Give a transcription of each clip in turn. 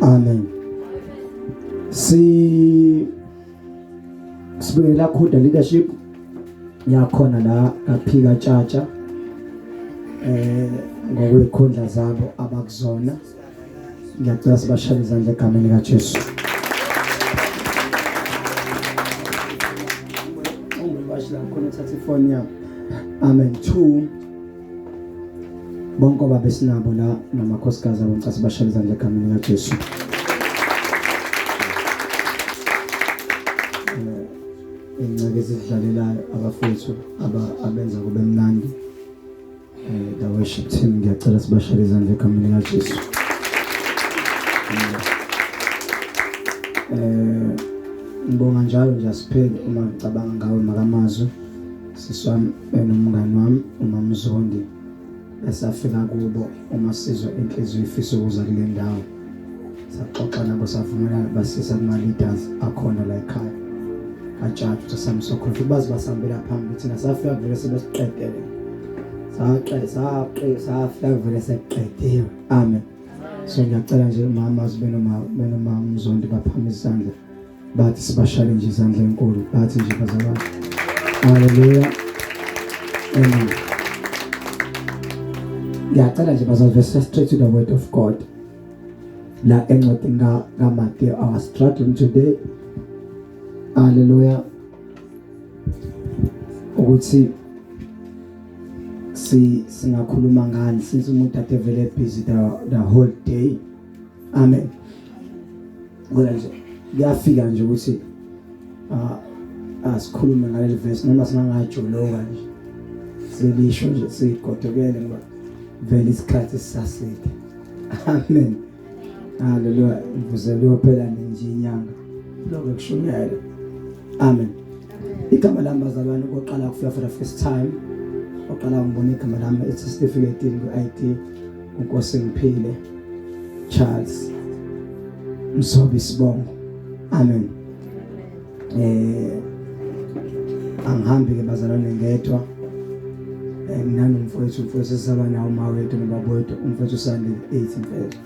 Amen. Si sibuyela khuda leadership yakhona la kaphika tshatsha eh ngokwekhundla zabo abakuzona ngiyacela sibashale izandla egameni kaJesu ungibashila khona thatha ifoni yami amen 2 bonke obaba esinabo la namakhosikazi abo ngicela sibashele izandla egameni likaJesu eh, ingceke ezidlalelayo abafowethu abenza kube mnandi um the worship team ngiyacela sibashele izandla egameni likaJesu um ngibonga njalo nje asipheli uma ngicabanga ngawe makamazwi Sisi wami benomngani wami umama Zondi esafika kubo uma sizwa inhliziyo ifisa ukuza kule ndawo saxoxa nabo savumelana basisa kuma-leaders akhona la ekhaya kajaji ukuthi samsokhohla bazi basihambela phambili thina safika kuvele sebesiqedele safika kuvele sekuqediwe amen so ngiyacela nje mama benoma benoma mzondi baphama isandla bathi sibashale nje izandla enkulu bathi nje bazalwane haleluya amen ngiyacela nje bazalwane straight to the word of god la encwadini kaMateyu our struggle today haleluya ukuthi si singakhuluma ngani since umuntu ade vele busy the, the whole day amen Ngoba nje kuyafika nje ukuthi ah asikhulume ngaleli verse noma singangajoloka nje. Selisho nje sigodokele ngoba vele isikhathi sisaside. Amen. Haleluya. Ngivuze kuyophela nje inyanga. Lokho kushunyayela. Amen. Igama lami bazalwane koqala kufika for the first time. Oqala ngibona igama lami ethi Stephen Edin ku-ID. Nkosi ngiphile Charles Msobi Sibongo amen eh angihambi ke bazalwane ngedwa eh, mina nomfowethu mfowethu sisaba nawo mawethu nobabowethu umfowethu Sandile 8 mfowethu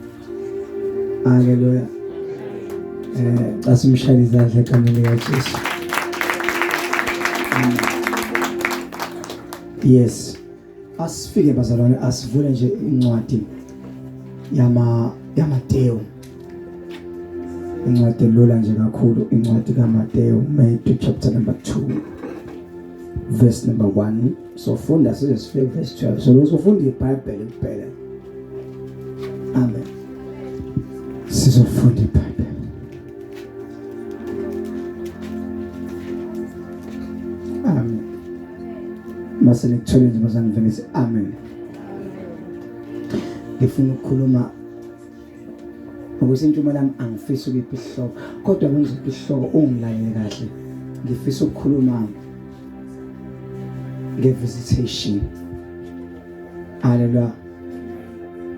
haleluya eh xa simshaya izandla egameni likaJesu yes Asifike bazalwane asivule nje incwadi yama yaMateyu. Incwadi elula nje kakhulu incwadi kaMateyu Matthew chapter number 2 verse number 1. Sofunda size sifike verse 12. So losofunda iBhayibheli kuphela. Amen. Sizofunda iBhayibheli. mase nikuthole nje bazane vele si amen ngifuna ukukhuluma ukuthi intshumo lami angifisi ukuphi isihloko kodwa kungiziphi isihloko ungilalele kahle ngifisa ukukhuluma nge-visitation haleluya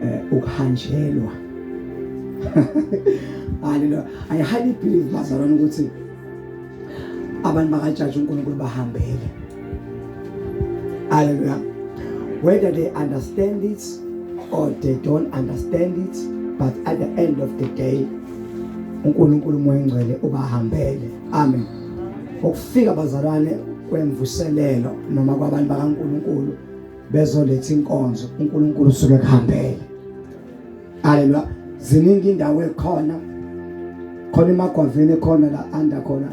eh ukuhanjelwa haleluya i highly believe bazalwane ukuthi abantu bakajaji uNkulunkulu bahambele haleluya whether they understand it or they don't understand it but at the end of the day uNkulunkulu umoya ongcwele ubahambele amen ukufika bazalwane kwemvuselelo noma kwabantu bakaNkuluNkulu bezoletha inkonzo uNkulunkulu usuke kuhambele haleluya ziningi indawo ekhona khona emagwaveni khona la anda khona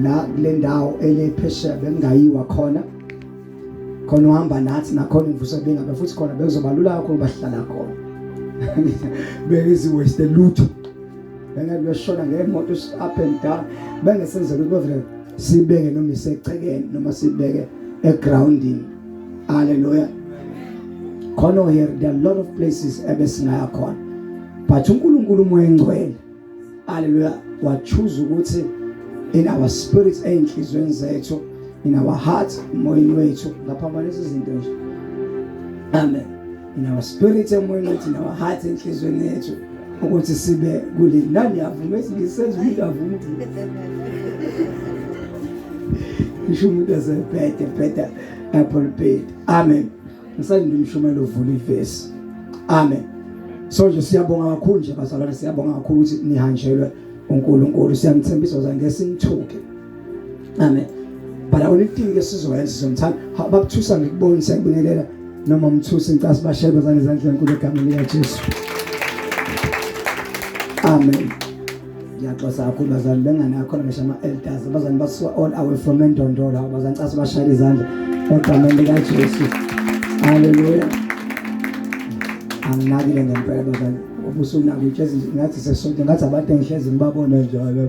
la kule ndawo elephesheya bengayiwa khona khona uhamba nathi nakhona imvuso bengabe futhi khona bekuzobalula kakhulu bahlala khona bengezi waste lutho bengeke beshona ngemoto up and down bengesenzela ukuthi bavele sibeke noma isechekeni noma sibeke egroundini Hallelujah. Khona here there are a lot of places ebesingaya khona. But uNkulunkulu umoya engcwele. Hallelujah. Wa choose ukuthi in our spirits einhlizweni zethu in our hearts moyeni wethu ngaphambanisa izinto nje. Amen. in our spirit emoyeni wethu in our heart enhlizweni yethu ukuthi sibe kule nani avuma esingisenza umuntu avuma ngisho umuntu azebhede bheda apho libhedi amen ngisalinde umshumela uvula ivesi amen so nje siyabonga kakhulu nje bazalwane siyabonga kakhulu ukuthi nihanjelwe uNkulunkulu siyamthembisa uzangesinithuke Amen. But awona ithini ke sizoyenza sizomthanda. Bakuthusa ngikubona siyakubingelela noma umthusi incasi bashebe zane zandla enkulu egameni lika Jesu. Amen. Ngiyaxosa kakhulu bazali bengane yakho ngisho ama elders abazali basuka all away from Ndondolo abazali ncasi bashayile izandla egameni lika Jesu. Hallelujah. Anginakile ngempela bazali. Ubusunakile ngathi sesonke ngathi abantu engihlezi ngibabona njalo.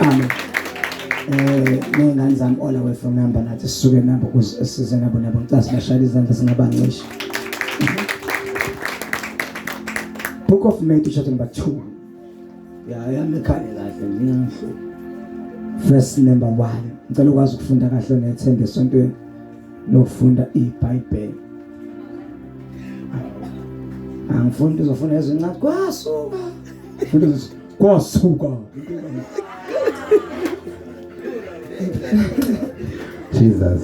amen eh nengane zami all away from number nathi sisuke nabo ukuze size nabo nabo ngicase bashaya izandla singabancisha Book of Matthew chapter number 2 ya yami khale kahle ngiyangihlo verse number 1 ngicela ukwazi ukufunda kahle nethembe esontweni nokufunda iBhayibheli angifuni uzofuna ezincane kwasuka kwasuka Jesus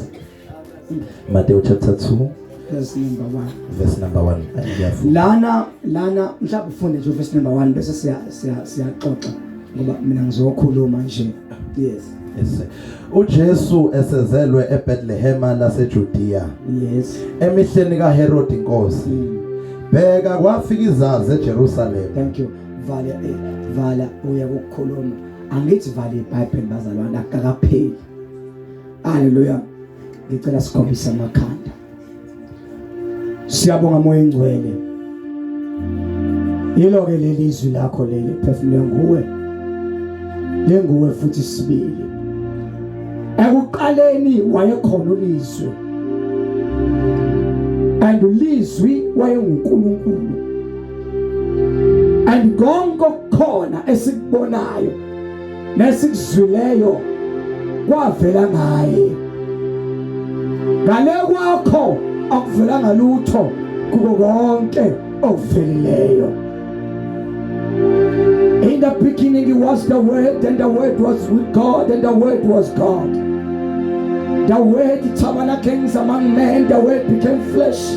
Mateo chapter 2 verse number 1 verse number 1 lana lana mhlawumbe ufunde nje verse number 1 bese siya siyaxoxa ngoba mina ngizokhuluma nje yes yes uJesu esezelwe eBethlehem laseJudea yes emihleni kaHerod inkosi mm. bheka kwafika izazi eJerusalem thank you vala eh vala uya ukukhuluma angithi vala iBhayibheli bazalwane akakapheli haleluya ngicela sikhombise amakhanda siyabonga moya engcwele yilo ke leli izwi lakho leli phefumule nguwe lenguwe futhi sibili ekuqaleni wayekhona ulizwe and ulizwi wayenguNkulunkulu and konke okukhona esikubonayo nesikuzwileyo kwavela ngaye ngale kwakho akuvelanga lutho kuko konke okuvelileyo In the beginning it was the word and the word was with God and the word was God The word tabernacle among men the word became flesh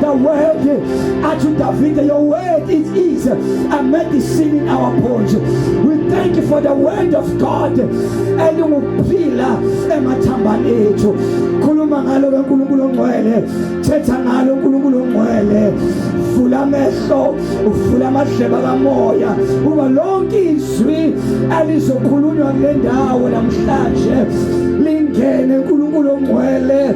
The word at David, your word it is a medicine in our bones. We thank you for the word of God. And will pillar emathambani ethu. Khuluma ngalo ke uNkulunkulu ongcwele. Thetha ngalo uNkulunkulu ongcwele. Vula amehlo, uvula amadleba kamoya. Uba lonke izwi elizokhulunywa kule ndawo namhlanje. Lingene uNkulunkulu ongcwele.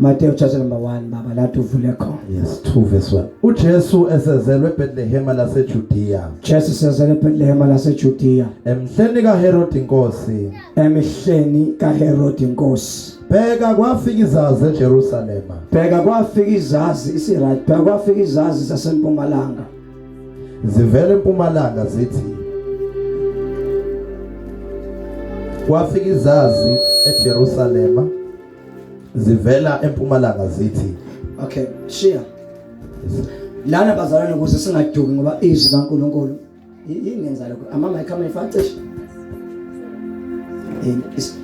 Matthew chapter number 1 baba lathi uvule khona. Yes 2 verse 1. UJesu esezelwe eBethlehem laseJudea. Jesu esezelwe eBethlehem laseJudea. Emhleni kaHerod inkosi. Emihleni kaHerod inkosi. Bheka kwafika izazi eJerusalem. Bheka kwafika izazi isiRight. Bheka kwafika izazi zasempumalanga. Zivela empumalanga zithi Kwafika izazi eJerusalema zivela empumalanga zithi okay shiya lana bazalwane ukuze singaduki ngoba izwi kaNkuluNkulu ingenza lokho ama mic ama ifacisha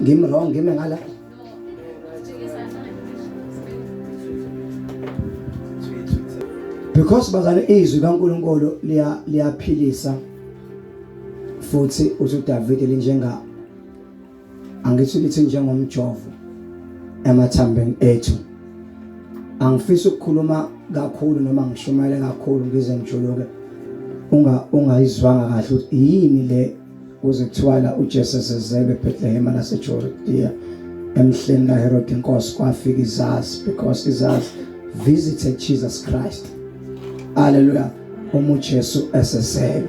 ngim wrong ngime ngala because bazane izwi kaNkuluNkulu liya liyaphilisa futhi uthi uDavid linjenga angithi ukuthi njengomjovo emathambeni ethu angifisi ukukhuluma kakhulu noma ngishumayele kakhulu ngize ngijuluke unga ungayizwanga kahle ukuthi yini le kuze kuthiwa la uJesus ezelwe eBethlehem laseJudiya emhleni kaHerod inkosi kwafika izazi because izazi visited Jesus Christ haleluya uma uJesu esezelwe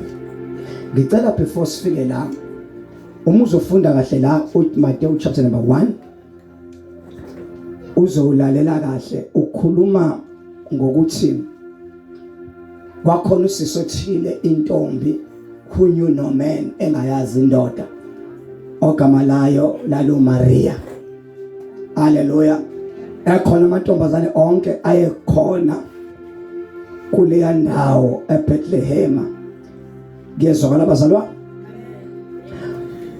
ngicela before sifike la uma uzofunda kahle la uMateyu chapter number 1 uzowulalela kahle ukhuluma ngokuthi kwakhona usisi othile intombi who knew no man engayazi indoda ogama layo lalo Maria haleluya ekhona amantombazane onke ayekhona kuleya ndawo eBethlehem ngiyezwakala bazalwa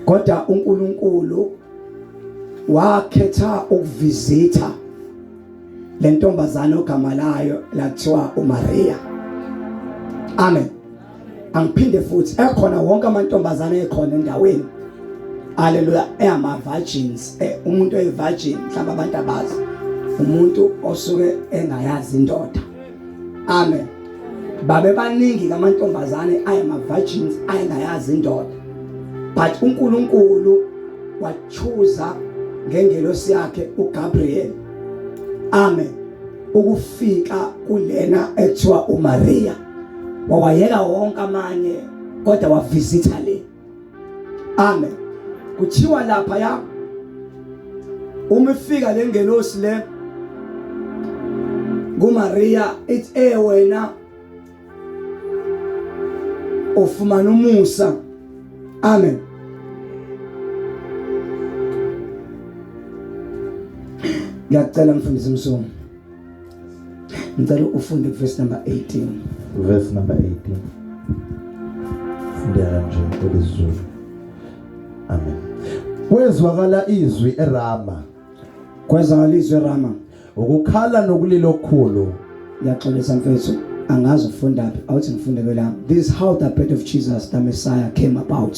kodwa uNkulunkulu wakhetha ukuvizitha le ntombazane ogama layo lathiwa uMaria amen angiphinde futhi ekhona wonke amantombazane ekhona endaweni haleluya eyama virgins eh, umuntu oyi virgin mhlawumbe abantu abazi umuntu osuke engayazi indoda amen babe baningi kamantombazane ayama virgins ayengayazi indoda but uNkulunkulu wachuza ngengelosi yakhe uGabriel amen ukufika kulena ekuthiwa uMaria wawayeka wonke amanye kodwa wavisitha le amen kuthiwa lapha ya uma ifika le ngelosi le kuMaria ithi eh wena ufumana umusa amen ngiyacela mfundisi msomi ngicela ufunde verse number 18 verse number 18 fundela nje kwelizulu amen kwezwakala izwi erama kwezwakala izwi erama ukukhala nokulila okukhulu ngiyaxolisa mfethu angazi ufunda phi awuthi ngifunde kwelami this is how the birth of jesus the messiah came about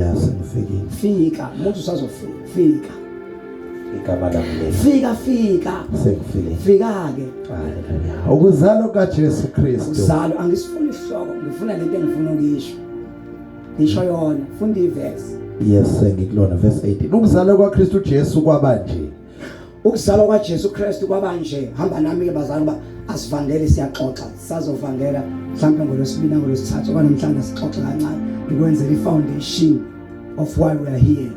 ya sengifikile fika muthi usazofika fika igama lami fika fika sengifile fika ke ukuzalo ka Jesu Kristu uzalo angisifuni ihloko ngifuna lento engifuna ukisho ngisho yona funda iverse yes sengikulona verse 18 ukuzalo kwa Kristu Jesu kwabanje Ukuzalwa kwaJesu Kristu kwabanje hamba nami ke bazali ba asivangeli siyaxoxa sazovangela mhlawumbe ngolwesibili ngolwesithathu kwanamhlanje sixoxa kancane ngikwenzela ifoundation of why we are here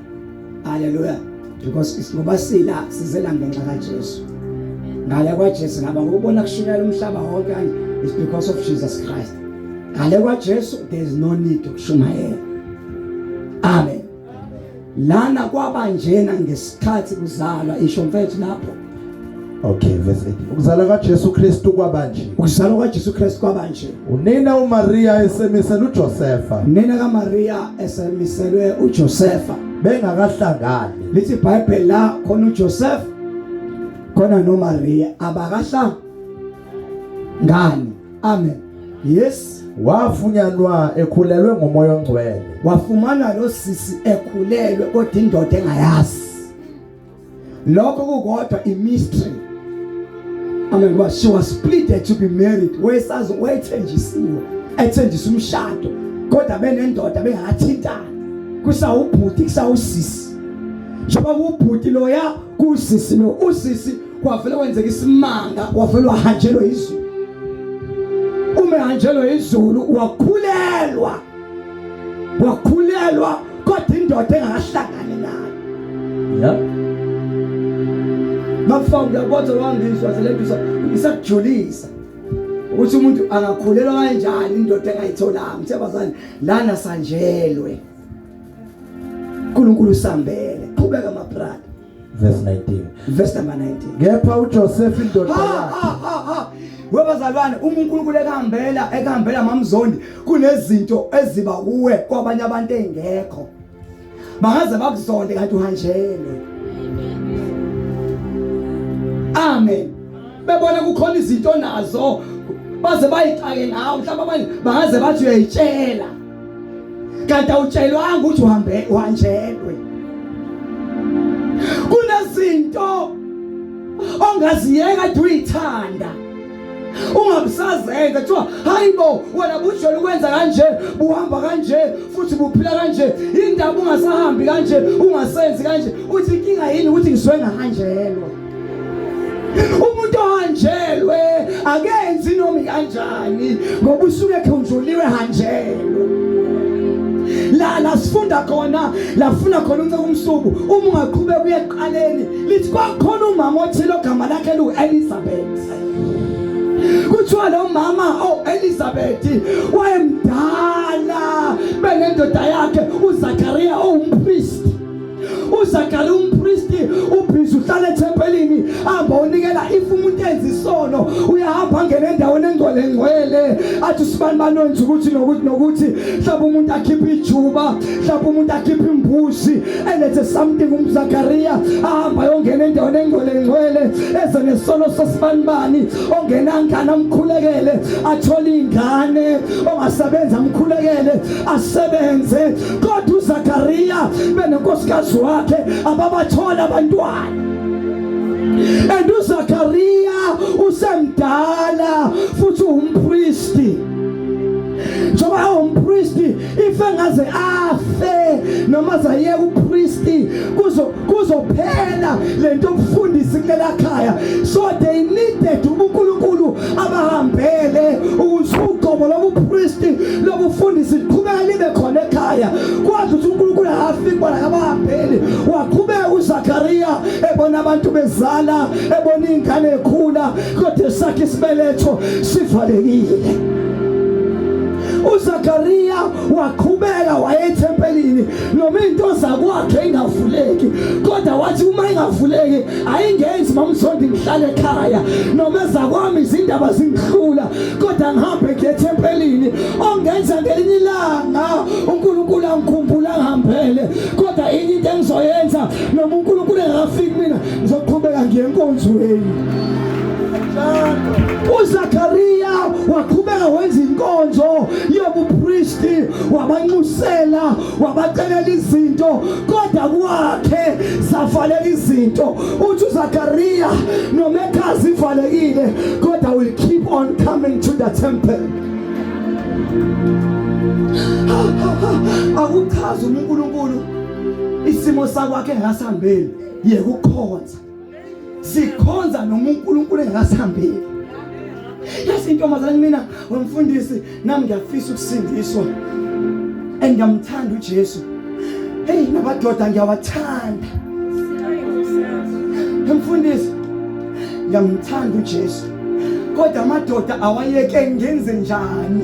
haleluya because ngoba sila sizela ngenxa kaJesu ngale kwaJesu ngaba ngokubona kushunyela umhlaba wonke kanje is because of Jesus Christ ngale kwaJesu there is no need yokushumayela amen lana kwaba njena ngesikhathi kuzalwa isho mfethu lapho Okay verse 8. Ukuzalwa kaJesu Kristu kwaba nje. Ukuzalwa kaJesu Kristu kwaba nje. Unina uMaria esemisela uJosefa. Unina kaMaria esemiselwe uJosefa. Bengakahlangani. Lithi iBhayibheli la khona uJosefa khona noMaria abakahlangani. ngani amen yes wafunyanwa ekhulelwe ngomoya ongcwele wafumana lo sisi ekhulelwe kodwa indoda engayazi lokho kukodwa i mystery amen but she was pleaded to be married wayesazi wayethenjisiwe ethenjisa umshado kodwa benendoda bengathintana kusawubhuti kusawusisi njengoba kubhuti loya kusisi lo usisi kwavele kwenzeka isimanga wavele wahanjelwa izulu uma ehanjelwa izulu wakhulelwa wakhulelwa kodwa indoda engakahlangani nayo yeah bafa ngiyabotha wangizwa selendisa ngisakujulisa ukuthi umuntu angakhulelwa kanjani indoda engayitholanga ngithe bazali lana sanjelwe uNkulunkulu sambele qhubeka mabrada verse 19 verse number 19 kepha uJoseph indoda yakhe webazalwane uma uNkulunkulu ekahambela ekahambela mamzondi kunezinto eziba kuwe kwabanye abantu engekho bangaze bakuzonde kanti uhanjelwe amen bebona kukhona izinto nazo baze bayixake ngawo mhlawumbe abanye bangaze bathi uyayitshela kanti awutshelwanga ukuthi uhambe uhanjelwe kunezinto ongaziyeka duyithanda ungabusazenza kuthiwa hayibo wena bujole ukwenza kanje buhamba kanje futhi buphila kanje indaba ungasahambi kanje ungasenzi kanje uthi inkinga yini ukuthi ngizwe ngahanjelwa umuntu ohanjelwe akenzi noma kanjani ngoba usuke ekhunjuliwe hanjelwe la la sifunda khona la funa khona unceke umsuku uma ungaqhubeka uye eqaleni lithi kwakhona umama othile ogama lakhe lu Elizabeth kuthiwa lo mama o oh, Elizabeth wayemdala benendoda yakhe uZakaria owumpriest oh, uZakari umpristi ubhizi uhlala ethempelini hamba unikela if umuntu enza isono uyahamba angena endaweni engcwele ngcwele athi sibani banonza ukuthi nokuthi nokuthi mhlawumbe umuntu akhiphe ijuba mhlawumbe umuntu akhiphe imbuzi elethe something umzakariya ahamba yongena endaweni engcwele ngcwele eze nesono sasibani bani ongena ngana mkhulekele athole ingane ongasebenza mkhulekele asebenze kodwa uZakariya benonkosikazi wakhe ababathola abantwana and uZakariya usemdala futhi umpristi njengoba ewumpristi ife ngaze afe noma zayeka upristi kuzo kuzophela lento yokufundisa kulela khaya so they needed ubunkulunkulu abahambele ukuze ugobo lobupristi lobufundisi liqhubeke libe khona ekhaya kwazi ukuthi unkulunkulu akafiki bona abahambeli waqhubeka uzakariya ebona abantu bezala ebona iy'ngane ekhula kodwa esakhe isibeletho sivalekile uzakariya waqhubeka waye ethempelini noma into zakwakhe ingavuleki kodwa wathi uma ingavuleki ayingenzi mamzondi ngihlale ekhaya noma ezakwami izindaba zingihlula kodwa ngihambe ngiye ethempelini ongenza ngelinye ilanga unkulunkulu angikhumbula ngihambele kodwa inye into engizoyenza noma unkulunkulu engafiki mina ngizoqhubeka ngiye enkonzweni uZakariya waqhubeka wenza inkonzo yobupristi wabanxusela wabacelela izinto kodwa kwakhe zavaleka izinto uthi uZakariya noma ekhazi ivalekile kodwa will keep on coming to the temple akuchazi uNkulunkulu isimo sakwakhe engasihambeli yekukhonza sikhonza noma uNkulunkulu engasihambeli yazi intombazane mina wemfundisi nami ngiyafisa ukusindiswa and ngiyamthanda uJesu hey nabadoda ngiyawathanda mfundisi ngiyamthanda uJesu kodwa amadoda awayeke ngenze njani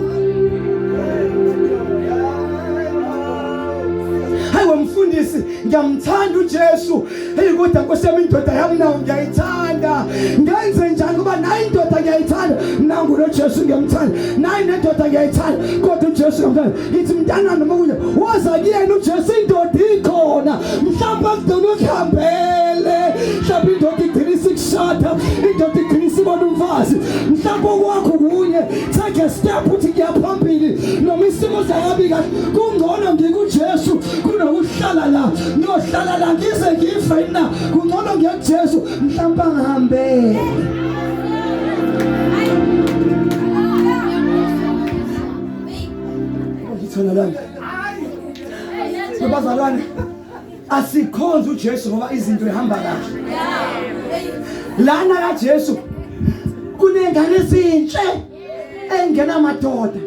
hayi wemfundisi ngiyamthanda uJesu Hey kodwa kusema indoda yami nawo ngiyayithanda. Ngenze njani kuba nayi indoda ngiyayithanda. Nangu lo Jesu ngiyamthanda. Nayi nendoda ngiyayithanda. Kodwa uJesu ngiyamthanda. Ngithi mntana noma kunye woza kuyena uJesu indoda ikhona. Mhlawumbe akudona ukuhambele. Mhlawumbe indoda igcina isikushada. Indoda igcina isibona umfazi. Mhlawumbe okwakho kunye take a step uthi ngiyaphambili noma isimo sayabi kahle. Kungcono ngikuJesu. kunokuhlala la ngiyohlala la ngize ngife na kungcono ngejesu mhlawumbe angihambe ngitholakala abazalwane asikhonze uJesu ngoba izinto ehamba kahle lana kaJesu kunengane ezinhle engena madoda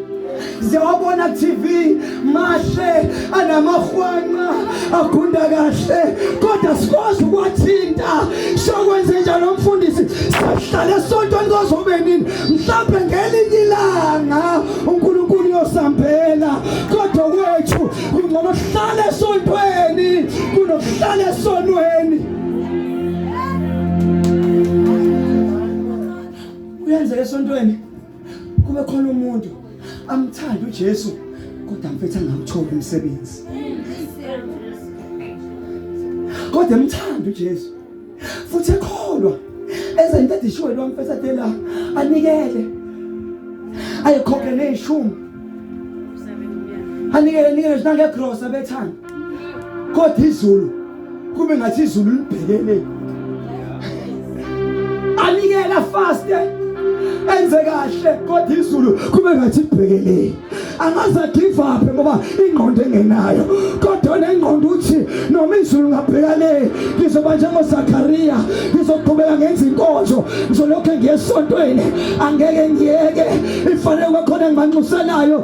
ziyawabona TV mahle anamahwanqa agunda kahle kodwa sikwazi ukwathinta sokwenze njalo mfundisi sihlale esontweni kozobe nini mhlawumbe ngelinye ilanga uNkulunkulu uyosambela kodwa kwethu kungcono sihlale esontweni kunokuhlala esonweni kuyenzeka esontweni kube khona umuntu amthanda uJesu kodwa mfethu angamtholi umsebenzi kodwa emthanda uJesu futhi ekholwa eze into edishiwe lo mfethu adela anikele ayikhokhe nezishumi anikele nikele nje nangegrosa bethanda kodwa izulu kube ngathi izulu libhekele anikela faste eh? enze kahle kodwa izulu kube ngathi libhekele angaze give up ngoba ingqondo engenayo kodwa nengqondo uthi noma izulu ngabheka le ngizoba njengoZakariya ngizoqhubeka ngenza inkonzo ngizolokhu ngiyesontweni angeke ngiyeke ifanele kwakhona ngimanxuselayo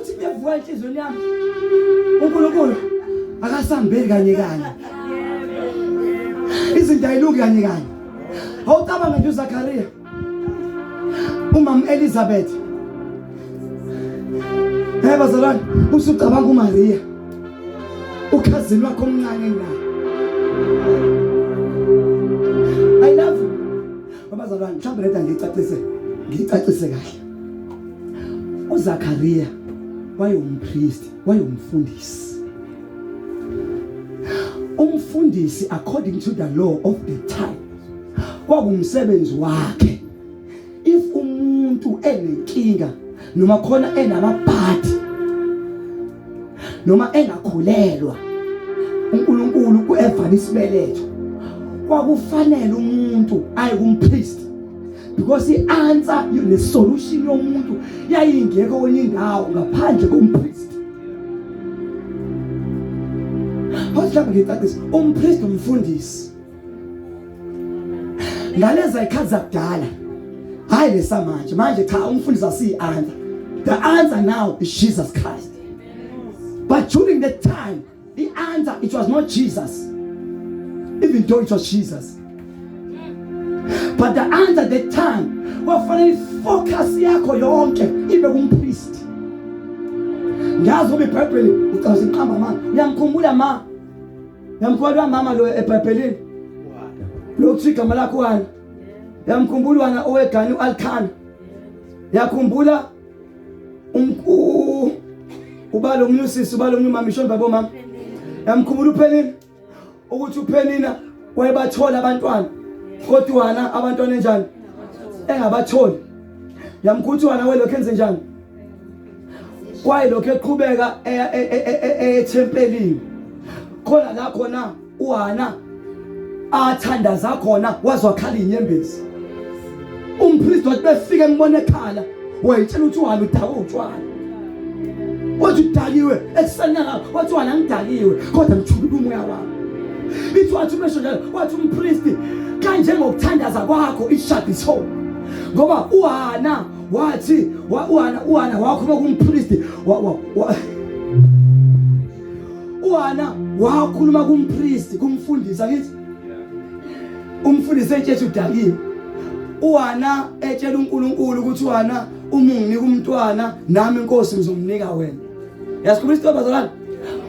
Uthi kuyavuka enhlizweni yami. UNkulunkulu akasambeli kanye kanye. Izinto ayilungi kanye kanye. Awucabanga nje uZakaria. Umama Elizabeth. Hey bazalwane, usucabanga uMaria. Ukhazini wakho omncane naye. I love you. Babazalwane, mhlawumbe leta ngicacise. Ngicacise kahle. uZakariya wayewumpriest wayewumfundisi umfundisi according to the law of the time kwakumsebenzi wakhe if umuntu enenkinga noma khona enamabhadi noma engakhulelwa uNkulunkulu kuevana isibeletho kwakufanele umuntu aye kumpriest because i-answer nesolution yomuntu yayingekho kwenye indawo ngaphandle kompristi mhlawumbe ngicacisa umpristi umfundisi ngaleza ikhathi zakudala hayi lesamanje manje cha umfundisi asiyi-answer the answer now is jesus christ but during that time The answer it was not Jesus even though it was Jesus but the answer the time kwafanele ifocus yakho yonke ibe kumpriest ngiyazi ngoba ibhayibheli ucaza iqamba mama uyamkhumbula ma uyamkhumbula mama lo ebhayibhelini lo kuthi igama lakho wani uyamkhumbula wena owegani u-alkhana uyakhumbula umku ubalo omunye usisi ubalo omunye umama ishoni babo mama yamkhumula uphenini ukuthi uphenina wayebathola abantwana kodwa wana abantwana enjani engabatholi yamkhuthi wana welokhu enze njani kwayilokhu eqhubeka eya ethempelini khona la khona uHana athandaza khona wazwakhala inyembezi umpristi wathi befike embona ekhala wayitshela ukuthi uHana udakwe utshwala wathi udakiwe ekuseni yalapho wathi uHana ngidakiwe kodwa ngithulile umoya wami ithi wathi umesho njalo wathi umpristi kanjengokuthandaza kwakho ishadi so ngoba uHana wathi uHana uHana wakhuluma kumpristi wa, wa, wa. uHana wakhuluma kumpriest kumfundisi akithi umfundisi etshela udakiwe uHana etshela uNkulunkulu ukuthi uHana uma unginika umntwana nami inkosi ngizomnika wena yasikhuluma isitoba zalana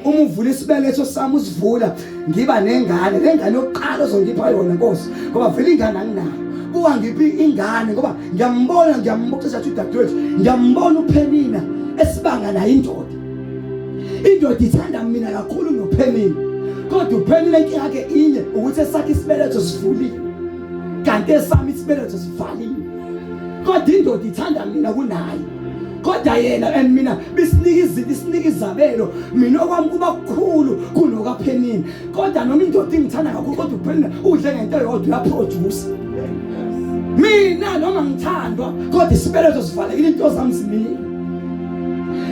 uma uvula isibeletho sami usivula ngiba nengane lengane yokuqala ozongipha yona nkosi ngoba vele ingane anginayo kuwa ngiphi ingane ngoba ngiyambona ngiyambuxisa ukuthi udadewethu ngiyambona uphenina esibanga naye indoda indoda ithanda mina kakhulu nophenile kodwa uphenile inkinga yakhe inye ukuthi esakhe isibeletho sivulile kanti esami isibeletho sivaliwe kodwa indoda ithanda mina kunaye kodwa yena and mina bisinika izinto isinika izabelo mina okwami kuba kukhulu kunokaphenini kodwa noma indoda ingithanda kakhulu kodwa uphela udle ngento yodwa uyaphroduce mina noma ngithandwa kodwa isibelezo sivalekile into zami zimile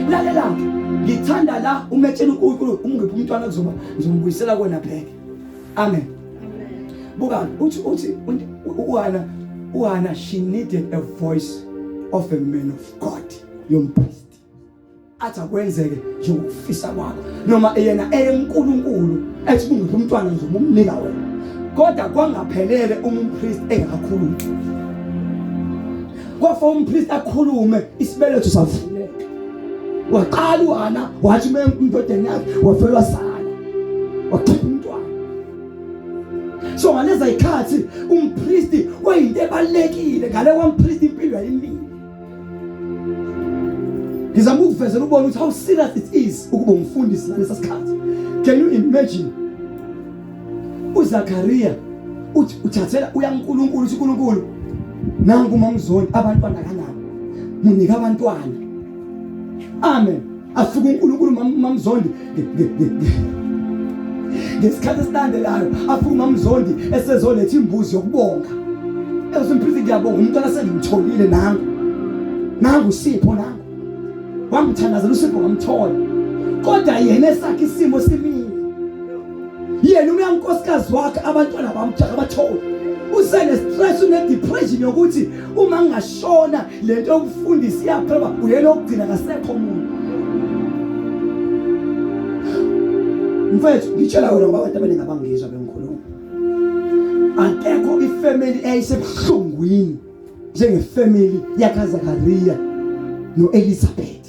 lalela ke ngithanda la umetshela uNkulunkulu umngiphi umntwana kuzoba ngizombuyisela kona pheke amen buka uthi uthi uhana uhana she needed a voice of a man of God yomphristi athi akwenzeke njengokufisa kwakho noma yena eyenkulunkulu ethi kungiphi umntwana ngizoba umnika wena kodwa kwangaphelele uma umpristi engakhulumi kwafa umpristi akhulume isibeletho savuleka waqala uhana wathi uma umdodeni yakhe wafelwa sala wakhipha umntwana so ngaleza ikhathi umpristi wayinto ebalekile ngale kwampristi impilo yayimile ngizama ukukuvezela ubone ukuthi how serious it is ukuba umfundisi ngalesa sikhathi can you imagine uzakariya uthi uthathela uyankulunkulu uthi unkulunkulu nangu mamzondi abantwana kanabo munika abantwana amen asuke uNkulunkulu mamzondi ngesikhathi esilandelayo afike umamzondi esezoletha imbuzi yokubonga ezosimphilisa ngiyabonga umntwana sengimtholile nangu nangu sipho nangu wangithandazela usipho ngamthola kodwa yena esakhe isimo simile yena uyankosikazi wakhe abantwana bamjaka bathole usenestress unedepression yokuthi uma ngingashona le nto yokufundisa iyaphela uyena okugcina kasekho muntu mfethu ngitshela wena ngoba abantu abaningi abangizwa bengikhuluma akekho ifamily eyayisebuhlungwini njengefamily yakazakariya no-elizabeth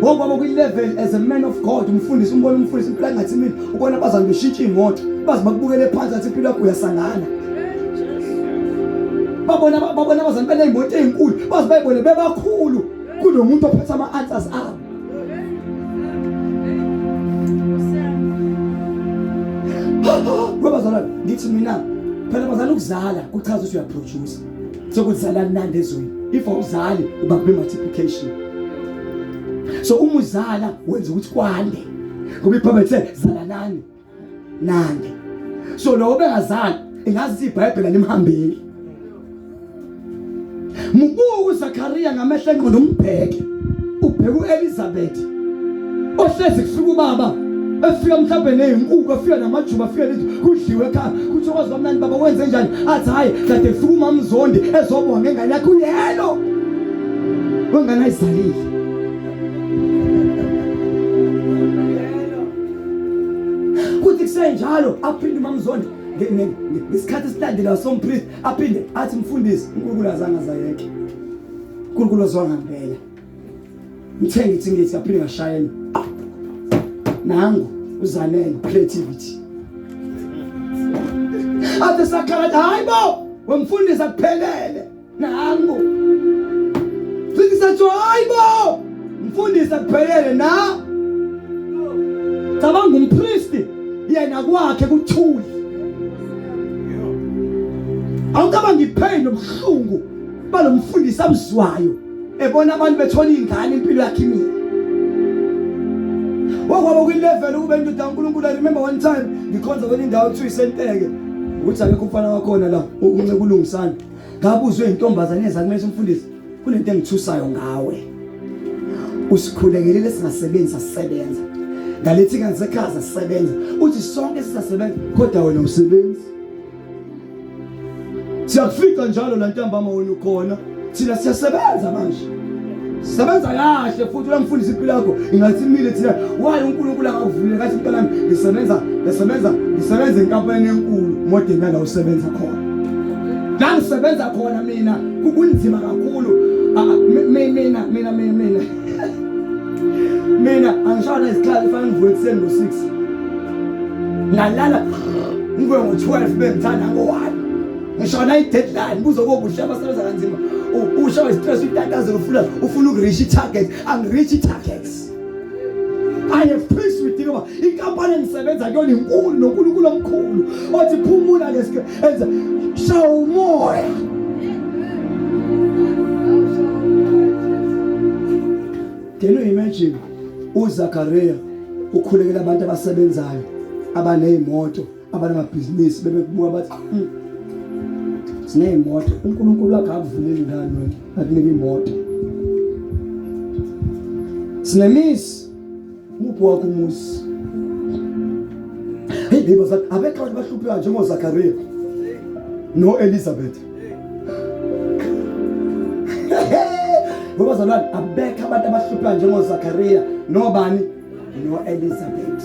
ngoku kwabo kwi-level as a man of god umfundisi umbona umfundisi impilo angathi mina ubona abazali beshintsha iy'moto baze bakubukele phansi athi impilo yakho uyasangana babona babona abazali beney'moto ey'nkulu baze bayibone bebakhulu kulo muntu ophethe ama-answers abo webazalwane ngithi mina phela bazala ukuzala kuchaza ukuthi uyaproducer sokuzala mnandi ezweni if awuzali uba kube multiplication so uma uzala wenza ukuthi kwande ngoba iBhayibheli lithe zalanani nande so lowo bengazali ingazi iBhayibheli alimhambeli mubuku Zakaria ngamehla engqondo umbheke ubheka uElizabeth ohlezi kufika ubaba efika mhlawumbe nezinkukhu efika namajuba afika lithi kudliwe ekhaya kuthi okwazi bamnani baba wenze njani athi hayi kade kufika umamzondi ezobonga ngengane yakhe uyelo wengane ayizalile kuthi kusenjalo aphinde umamzondi ngesikhathi esilandelayo sompriest aphinde athi mfundisi unkulunkulu azange azayeke uNkulunkulu ozwa ngempela ngithe ngithi ngithi aphinde ngashayela nangu uzanele creativity athe sakhala hayi bo wemfundisi akuphelele nangu futhi sathi hayi bo mfundisi akuphelele na cabanga umpristi yena kwakhe kuthuli awucabanga ipain nobuhlungu kuba nomfundisi amzwayo ebona abantu bethola ingane impilo yakhe imile wakwaba kwilevel ukube ndoda uNkulunkulu I remember one time ngikhonza kwenye indawo kuthiwa isenteke ukuthi akekho umfana wakhona la unce kulungisana ngabuzwe intombazane ezakumele umfundisi kunento engithusayo ngawe usikhulekelele singasebenzi asisebenza ngalethi kanti sekhaya sisebenza uthi sonke sisasebenza kodwa wena usebenzi siyakufica njalo la ntambama wena ukhona thina siyasebenza manje sebenza kahle futhi uyamfundisa impilo yakho ingathi imile thina waye unkulunkulu akakuvulile kathi mntanami ngisebenza ngisebenza ngisebenza enkampani enkulu modeni yala usebenza khona la ngisebenza khona mina kunzima kakhulu ah, ah, mina mina mina mina mina angishona isikhathi fanele ngivuke ekuseni ngo-six ngalala ngivuke ngo-twelve bengithanda ngo-one ngishona i-deadline buzokobuhle abasebenza kanzima usha westress utatazela ufuna ufuna ukureach i-target angireach i-targets I have peace with you. Inkampani engisebenza kuyona inkulu noNkulunkulu omkhulu. Othi phumula leske enza shaya umoya Can you imagine uZakaria ukhulekela abantu abasebenzayo abanezimoto abanamabhizinisi bebekubuka bathi hmm, sineyimoto uNkulunkulu wakhe akuvuleli ngani wena akunike imoto sinemizi Uphi wakho umuzi? Hey, hey bazali, abekho abantu bahluphiwa njengoZakariya no-Elizabeth. Ngoba zalwane abekho abantu abahluphiwa njengoZakariya nobani no-Elizabeth.